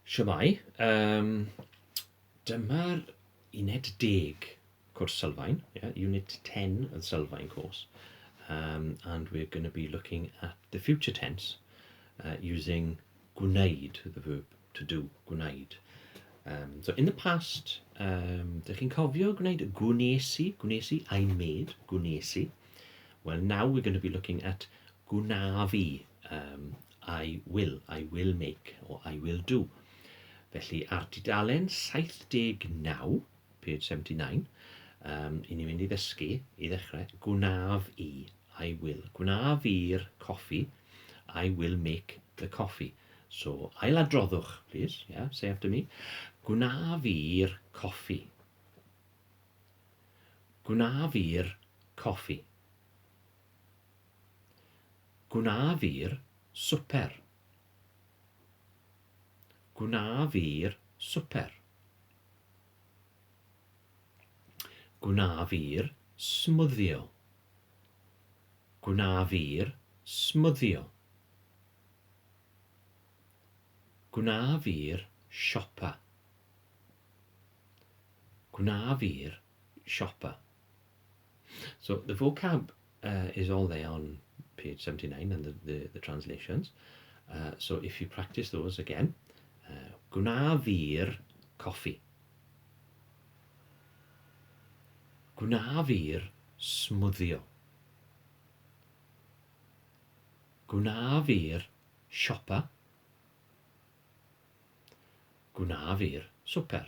Shwmae, yym dyma'r uned deg cwrs sylfaen, ie, unit ten yn sylfaen course, yym and we're going to be looking at the future tense yy using gwneud, the verb to do, gwneud. Yym so in the past yym dych chi'n cofio gwneud gwnes i, gwnes i, I made, gwnes i. Well now we're going to be looking at gwnaf i, yym I will, I will make, o I will do. Felly, ar dudalen 79, page 79, um, i ni fynd i ddysgu, i ddechrau, gwnaf i, I will. Gwnaf i'r coffi, I will make the coffee. So, ailadroddwch, please, yeah, say after me. Gwnaf i'r coffi. Gwnaf i'r coffi. Gwna fi'r swper. Gwna fi'r swper. Gwna fi'r smwddio. Gwna fi'r smwddio. Gwna fi'r siopa. Gwna fi'r siopa. So the vocab uh, is all there on page 79 and the, the, the translations. Uh, so if you practice those again, uh, gwna fi'r coffi. Gwna fi'r smwddio. Gwna fi'r siopa. Gwna fi'r swper.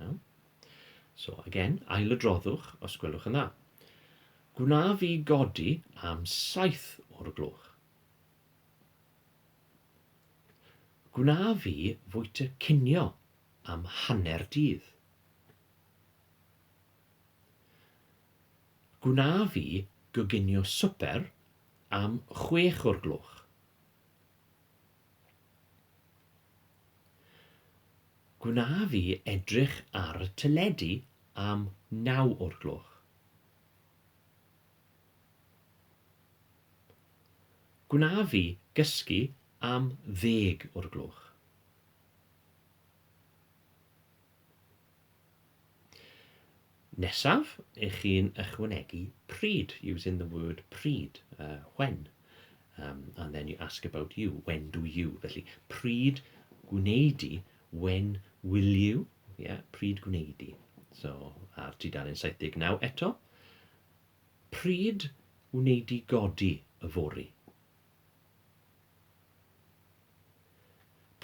Iawn? So, again, ailadroddwch os gwelwch yn dda. Gwna fi godi am saith o'r gloch. Gwna fi fwyta cinio am hanner dydd. Gwna fi goginio swper am chwech o'r gloch. Gwna fi edrych ar y teledu am naw o'r gloch. Gwna fi gysgu am ddeg o'r gloch. Nesaf, ych chi'n ychwanegu pryd, using the word pryd, uh, when, um, and then you ask about you, when do you, felly pryd gwneud i, when will you, yeah, pryd gwneud i. So, ar tudalen 79 eto, pryd wneud i godi y fori.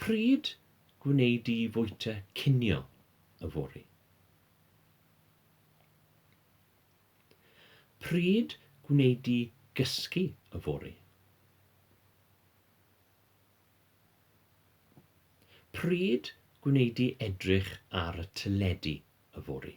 Pryd gwneud i fwyta cinio y fori. Pryd gwneud di gysgu yfory? Pryd gwneud di edrych ar y teledu yfory?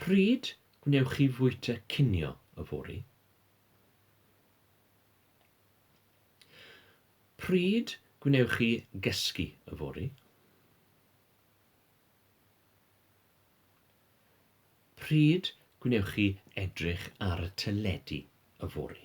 Pryd gwnewch chi fwyta cinio yfory? Pryd gwnewch chi gysgu yfory? Pryd gwnewch chi edrych ar y teledu yfory?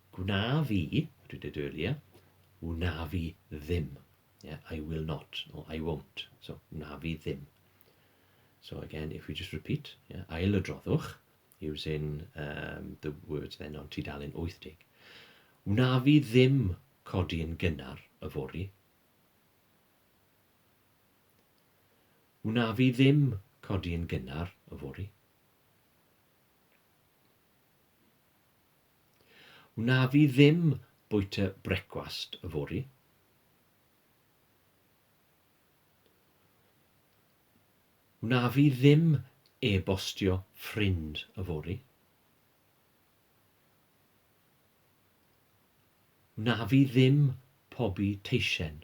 Gwna fi, dwi wedi dweud ia, wna fi ddim. Yeah, I will not, or I won't. So, wna fi ddim. So again, if we just repeat, yeah, ail y droddwch, using um, the words then on tudalen 80. Wna fi ddim codi yn gynnar y fori. Wna fi ddim codi yn gynnar y fori. Wnaf i ddim bwyta brecwast yfory. Wnaf i ddim e-bostio ffrind yfory. Wnaf i ddim pobi teisen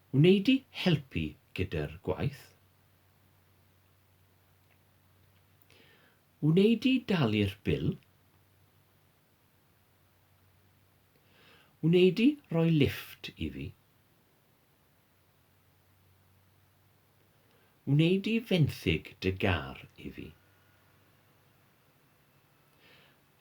Wnei-di helpu gyda'r gwaith? Wnei-di dalu'r bil? Wnei-di roi lifft i fi? Wnei-di fenthyg dy gar i fi?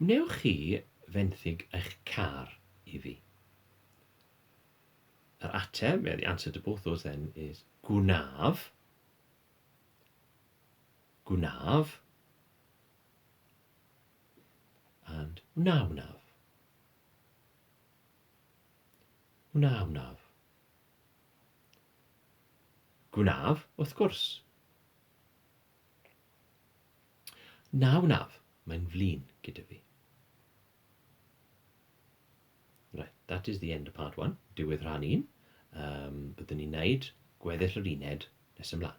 Wnewch chi fenthyg eich car i fi? Yr ateb, well, the answer to both those then is gwnaf. Gwnaf. And wna wnaf. Wna wnaf. Gwnaf, wrth gwrs. Na, wnaf, mae'n flin gyda fi. Right, that is the end of part one, diwedd rhan un. Um, byddwn ni'n neud gweddill yr uned nes ymlaen.